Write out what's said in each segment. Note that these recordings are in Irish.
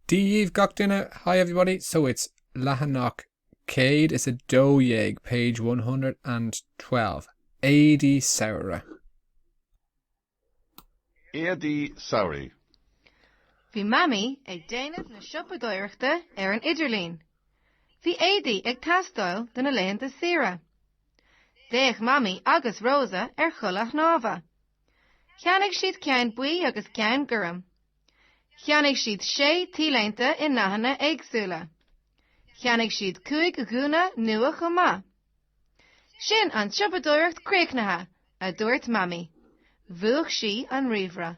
daoibh gach duine, hi everybody, so it's leathanach céad is a dó dhéag, page one hundred and twelve, éadaí samhraidh. éadaí samhraidh. Bhí Mamaí ag déanamh na siopadóireachta ar an idirlíon. Bhí éadaí ag teastáil do na laethanta saoire. D'fhéach Mamaí agus Rosa ar chulaith shnámha. Cheannaigh siad ceann buí agus ceann gorm. Cheannaigh siad sé T-léinte i ndathanna éagsúla. Cheannaigh siad cúig ghúna nua chomh maith. Sin an tsiopadóireacht críochnaithe, a dúirt Mamaí. Mhúch sí an ríomhaire.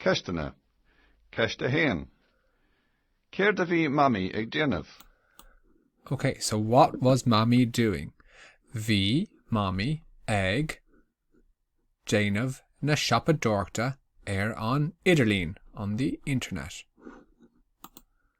Ceisteanna. Ceist 1. Céard a bhí Mamaí ag déanamh? Ok, so what was Mamaí doing? Bhí Mamaí ag déanamh na siopadóireachta ar an idirlíon, on the internet.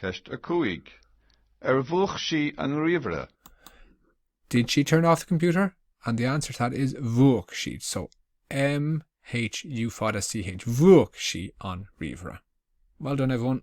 Ceist 5. Ar mhúch sí an ríomhaire? Did she turn off the computer? And the answer to that is mhúch sí. So M, H, U, C, H. Mhúch sí an ríomhaire. Well done, everyone.